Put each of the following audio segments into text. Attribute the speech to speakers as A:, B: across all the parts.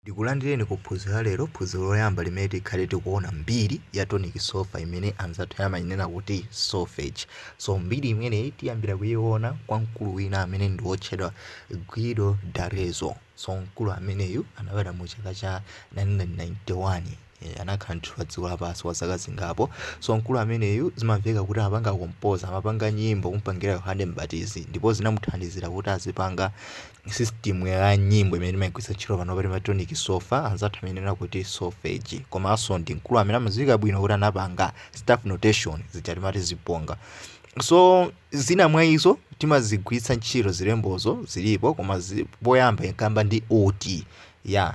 A: Ndikulandireni ku phunziro la lero, phunziro loyamba limene tikhale tikuona mbiri ya tonic sol-fa imene anzathu ena amainena kuti solfege. So mbiri imeneyi tiyambira kuiona kwa mkulu wina amene ndi wotchedwa Guido d'Arezzo. So mkulu ameneyu anabadwa mu chaka cha 991. Eeh anakhala ndithu pa dziko lapansi kwa zaka zingapo. So mkulu ameneyu zimamveka kuti amapanga compose, amapanga nyimbo kumupangira Yohane M'batizi ndipo zinamuthandizira kuti azipanga system ya nyimbo imene timaigwiritsa ntchito panopa timati tonic sol-fa, anzathu amainena kuti Solfege. Komanso ndi mkulu amene amadziwika bwino kuti anapanga staff notation zija timati zibonga. So zina mwa izo timazigwiritsa ntchito zilembozo zilipo koma zi, poyamba inkayamba ndi ut. Yeah.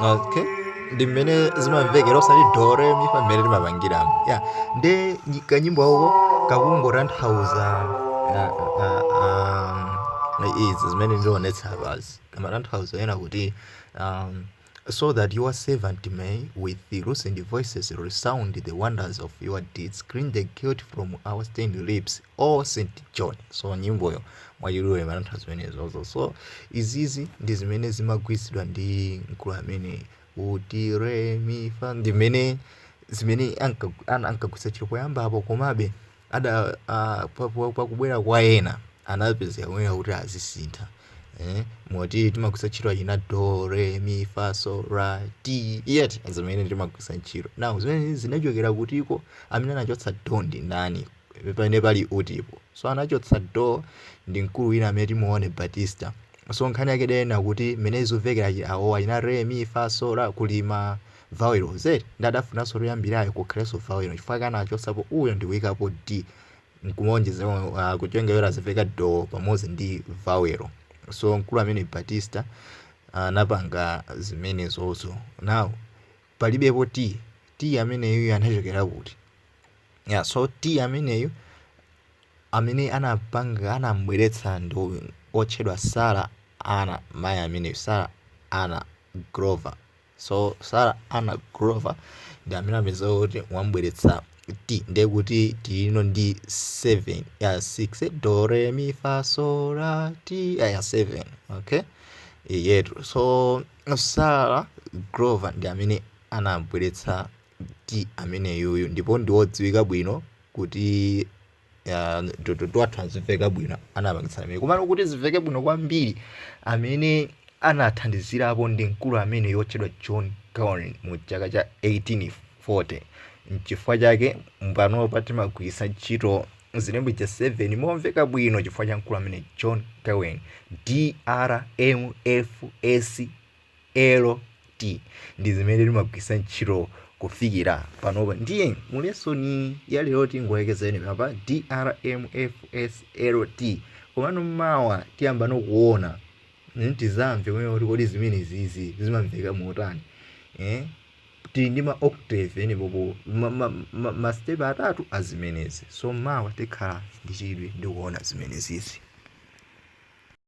A: okay ndi mmene zimamvekera osati do re mi fa mmene timapangiramo ya nde nyi- kanyimbo ako kakungotanthauza ah, ah, ah, izi zimene ndionetsa apazi kamatanthauza kunena kuti um, so that your servant may with the loosened voices resound the wonders of your deeds clean the guilt from our stained lips oh st john so nyimboyo mwachidule imatanthauza zimenezozo so izizi ndi zimene zimagwiritsidwa ndi mkulu ameneyu ut re mi fa ndi mene zimene anka- ana- ankagwiritsa ntchito poyambapo komabe ada uh, pa- pa- pakubwera kwa ena anapezeka kunena kuti azisintha eh, moti timagwiritsa ntchito achina do re mi fa so la ti yet zimene timagwiritsa ntchito now zimene zinachokera kutiko amene anachotsa do ndi ndani pamene pali utipo so anachotsa do ndi mkulu wina amene timuone battista so nkhani yake ndi yonena kuti mmene zimamvekera chi- awo achina re mi fa so la kuli ma vawelo zedi nde adafunanso koyambirako kukhalenso vawelo chifukwa chake anachotsapo uyo ndi kuikapo d nkumuonjeza uh, kuchonga yora azimveka do pamodzi ndi vawelo so mkulu ameneyu battista anapanga zimenezozo now palibepo ti ti ameneyu anachokera kuti ya so ti ameneyu amene anapanga anambweretsa ndi otchedwa sarah ann mayi ameneyu sarah ann glover so sarah ann glover ndi amene apeza kuti wambweretsa ti ndiye kuti tilino ndi 7 ya 6 do re mi fa so la ti ya 7 okay eyetu so Sarah Glover ndi amene anabweretsa ti ameneyuyu ndipo ndi wodziwika bwino kuti ah, to- to- twathu azimveka bwino anapangitsa ameneyu komano kuti zimveke bwino kwambiri amene anathandizirapo ndi mkulu ameneyu wotchedwa John Curwen mu chaka cha 1840 nchifukwa chake panopa timagwiritsa ntchito zilembo cha 7 momveka bwino chifukwa cha mkulu amene John Curwen drmfslt ndi zimene timagwiritsa ntchito kufikira panopa ndiye mulesoni ya lero tingolekeza penepapa drmfslt komano mawa tiyambano kuona mm, tizamve kumene kuti kodi zimenezizi zimamveka motani eh? tili ndi ma octave penepopo ma, ma, ma, ma step atatu azimenezi so mawa tikhala ndi chidwi ndikuona zimenezizi